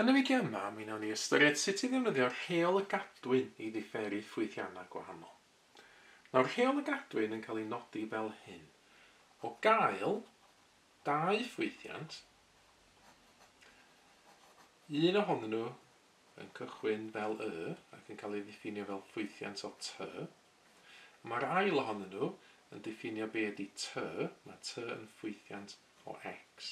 Yn y fideo yma, mi wnawn ni ystyried sut i ddefnyddio Rheol y Gadwyn i ddiferi ffwythiannau gwahanol. Nawr Rheol y Gadwyn yn cael ei nodi fel hyn, o gael dau ffwythiant, un ohonyn nhw yn cychwyn fel Y ac yn cael ei ddiffinio fel ffwythiant o T, Mae'r ail ohonyn nhw yn diffinio be ydy tŷ, mae tŷ yn ffwythiant o X.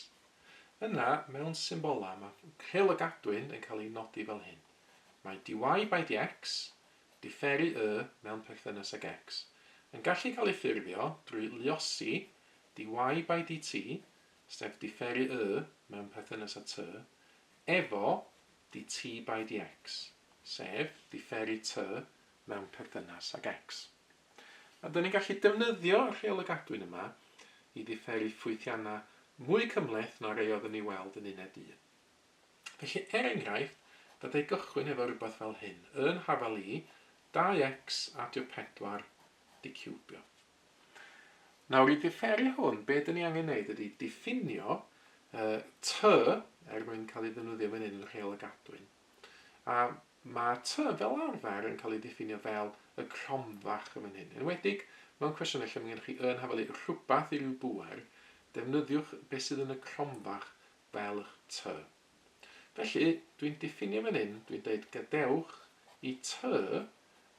Yna, mewn symbolau, mae rhyl y gadwyn yn cael ei nodi fel hyn. Mae dy by dx, diferu y, mewn perthynas ag X, yn gallu cael ei ffurfio drwy luosi dy by dt, sef diferu y, mewn perthynas â tŷ, efo dy by dx, sef diferu tŷ, mewn perthynas ag X. Byddwn ni'n gallu defnyddio y rheolau gadwyn yma i ddiferi ffwythiannau mwy cymhleth na rai oeddwn ni weld yn uned un. Felly, er enghraifft, byddai gychwyn efo rhywbeth fel hyn, yn hafal i, 2x adio 4, diciwbio. Nawr, i ddiferi hwn, be dyn ni angen wneud ydy diffinio uh, ty, er mwyn cael ei ddefnyddio fan hyn yn rheol y gadwyn, A ma' tŷ fel arfer yn cael ei ddiffinio fel y cromfach yn fan hyn. Enwedig mewn cwestiynau lle mae gennych chi yn hafelu rhywbeth i ryw bŵer, defnyddiwch beth sydd yn y cromfach fel eich tŷ. Felly, dwi'n diffinio fan hyn, dwi'n dweud gadewch i tŷ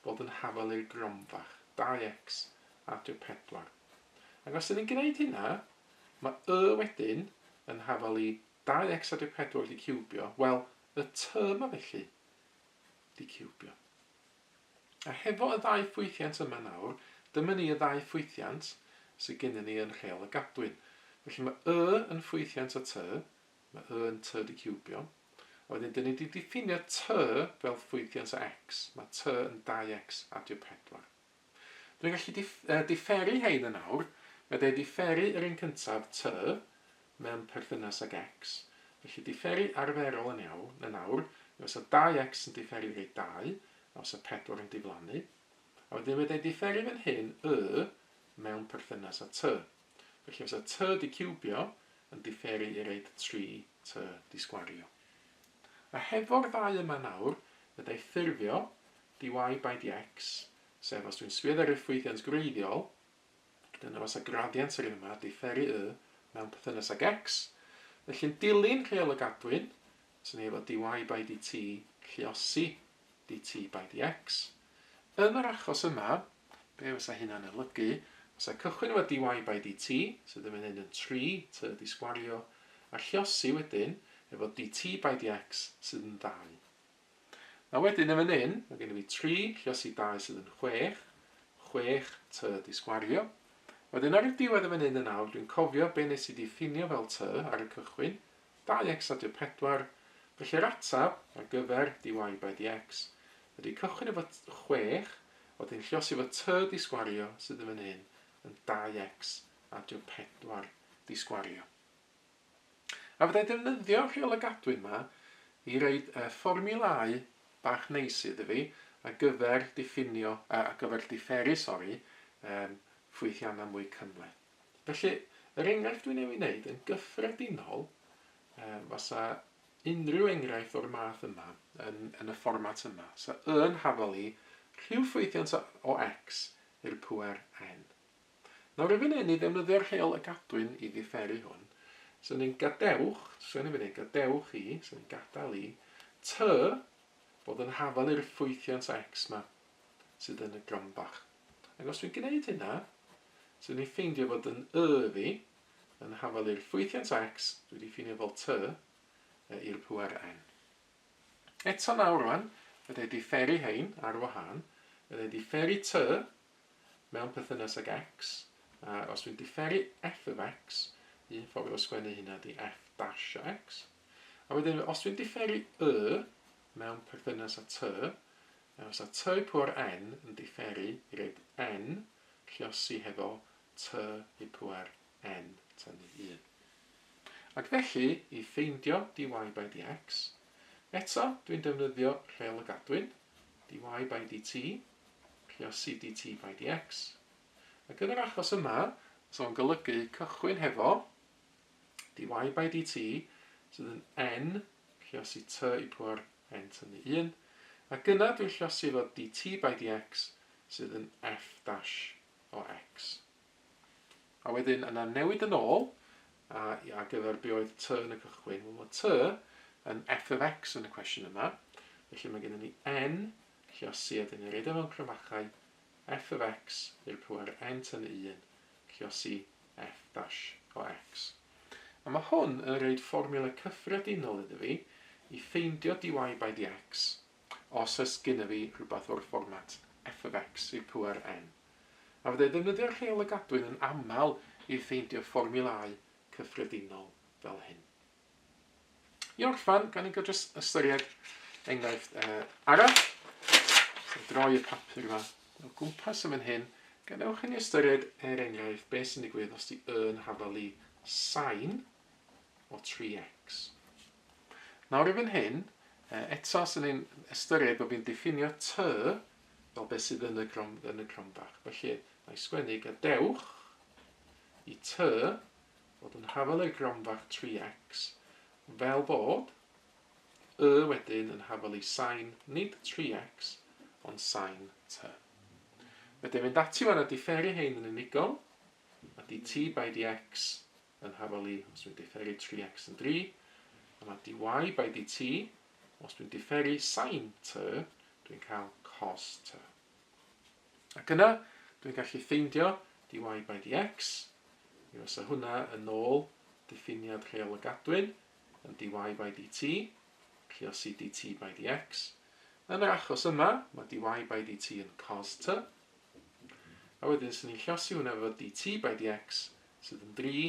fod yn hafalu'r gromfach, 2x adio 4. Ac os ydyn ni'n gwneud hynna, mae y wedyn yn hafalu Dau ecsad yw pedwar wedi ciwbio, wel, y tŷ yma felly, wedi ciwbio. A hefo y ddau ffwythiant yma nawr, dyma ni y ddau ffwythiant sydd gennym ni yn Rheol y Gadwyn. Felly mae Y yn ffwythiant y tŷ, mae Y yn tŷ wedi ciwbio, a wedyn dyn ni wedi diffinio tŷ fel ffwythiant o X, mae tŷ yn 2X adio pedwar. Dwi'n gallu diferu hein yn awr, fedra i diferu yr un cyntaf, T, mewn perthynas ag X. Felly diferu arferol yn iawn yn awr yw os o dau X yn diferu rei dau, a os o pedwar yn diflannu. A wedyn fedra i diferu fan hyn, Y, mewn perthynas â T. Felly os o T di ciwbio yn diferu i reid tri T di sgwario. A hefo'r ddau yma nawr, fedra i ffurfio DY by DX, sef os dwi'n swydd ar effwythiant gwreiddiol, dyna fasa gradiant yr un yma, diferu Y, mewn perthynas ag X, felly'n dilyn rheol y gadwyn, fyswn i efo DY by DT lluosi DT by DX. Yn yr achos yma, be fysa hynna'n olygu? Fysa cychwyn efo DY by DT, sydd yn mynd yn 3 tŷ di sgwario, a lluosi wedyn efo DT by DX sydd yn 2. Nawr wedyn yn fan hyn, mae gennym ni tri lluosi i dau sydd yn chwech, chwech tŷ di sgwario. Wedyn ar y diwedd yn fan hyn yn awr, dwi'n cofio be nes i ddiffinio fel tŷ ar y cychwyn, dau x a dy pedwar, felly yr atab ar gyfer dy by dy x ydy cychwyn efo chwech, wedyn lluosi efo tŷ di sgwario sydd yn fan hyn yn dau x a dy pedwar di sgwario. A fydda i ddefnyddio'r Rheol y Gadwyn 'ma i roid y fformiwlâu bach neis iddi fi ar gyfer diffinio, yy ar gyfer diferu, sori, yym ffwythiannau mwy cymhleth. Felly, yr enghraifft dwi'n ei wneud yn gyffredinol, yym fasa unrhyw enghraifft o'r math yma yn yn y fformat yma, 'sa Y yn hafal i rhyw ffwythiant o X i'r pŵer n. Nawr erbyn hyn i ddefnyddio'r rheol a gadwyn i ddiferu hwn, so ni'n gadewch, so ni'n mynd gadewch i, so ni'n gadael i, tŷ fod yn hafal i'r ffwythiant x yma sydd yn y gromboch. Ac os dwi'n gwneud hynna, so ni'n ffeindio fod yn y fi yn hafal i'r ffwythiant x dwi wedi ffinio fel tŷ i'r pŵer n. Eto nawr rwan, fydda i wedi fferi hein ar wahân, fydda i wedi fferi tŷ mewn perthynas ag X, a os dwi'n diferu F of X, un ffordd o sgwennu hynna di F dash o X, a wedyn os dwi'n diferu Y mewn perthynas a T, a os a T i pŵar N yn diferu i reid N lliosi hefo T i pŵar N tynnu 1. Ac felly, i ffeindio dy by dx, eto dwi'n defnyddio rheol y gadwyn, dy by dt, Cynllunio CDT by DX. Ac yn yr achos yma, os o'n golygu cychwyn hefo dy by dt sydd yn n llosi t i pwar n tynnu 1, ac yna dwi'n llosi efo dt by dx sydd yn f dash o x. A wedyn yna newid yn ôl a, a gyfer be oedd t yn y cychwyn. Wel, mae t yn f of x yn y cwestiwn yma, felly mae gennym ni n Felly os sydd yn eredda mewn cromachau, f of x i'r power n tyn 1, felly os y f dash o x. A mae hwn yn rhoid fformiwla cyffredinol iddo fi i ffeindio dy by dx os oes gynno fi rhywbeth o'r fformat f of x i'r power n. A fydda i ddefnyddio'r rheol a gadwyn yn aml i ffeindio fformiwlau cyffredinol fel hyn. I orffen, gan i gael jyst ystyried enghraifft uh, arall, so droi y papur yma o gwmpas yn fan hyn, gadewch i ni ystyried er enghraifft beth sy'n digwydd os di yn hafalu sain o 3x. Nawr i fan hyn, uh, eto sy'n ein ystyried bod fi'n diffinio ty fel beth sydd yn y, grom, yn y cromfach. Felly, mae sgwennu gadewch i ty fod yn hafal ei gronfa tri x, fel bod y wedyn yn hafal ei sain, nid tri x, ond sain tŷ. Fedra i fynd ati wan a diferu hein yn unigol, a di T by di x yn hafal i os dwi'n diferu tri x yn dri, a mae dy by dy t, os dwi'n diferu sain tŷ, dwi'n cael cos tŷ. Ac yna, dwi'n gallu ffeindio dy y by dy x, mi fysa hwnna yn ôl diffiniad rheol y gadwyn yn dy y by dy t, triosi dy t by dy x. Yn yr achos yma, mae dy y by dy t yn cos t, a wedyn sy'n ni'n llosi hwnna efo dy t by dy x sydd yn 3,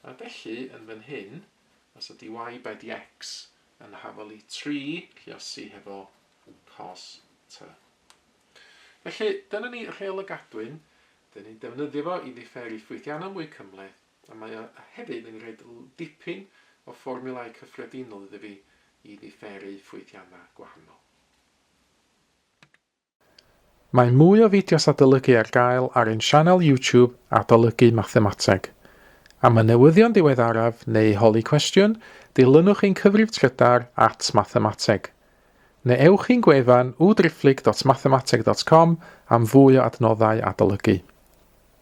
a felly yn fan hyn, fysa dy y by dy x yn hafolu 3 llosi hefo cos tŷ. Felly, dyna ni Rheol y Gadwyn, dyn ni'n defnyddio fo i ddifferi ffwythiannau mwy cymhleth, a mae o hefyd yn rhoid dipyn o fformiwlau cyffredinol iddo fi i ddifferi ffwythiannau gwahanol. Mae mwy o fideos adolygu ar gael ar ein sianel YouTube Adolygu Mathemateg. Am y newyddion diweddaraf neu holi cwestiwn, dilynwch ein cyfrif trydar at Mathemateg. Neu ewch i'n gwefan www.driphlyg.mathemateg.com am fwy o adnoddau adolygu.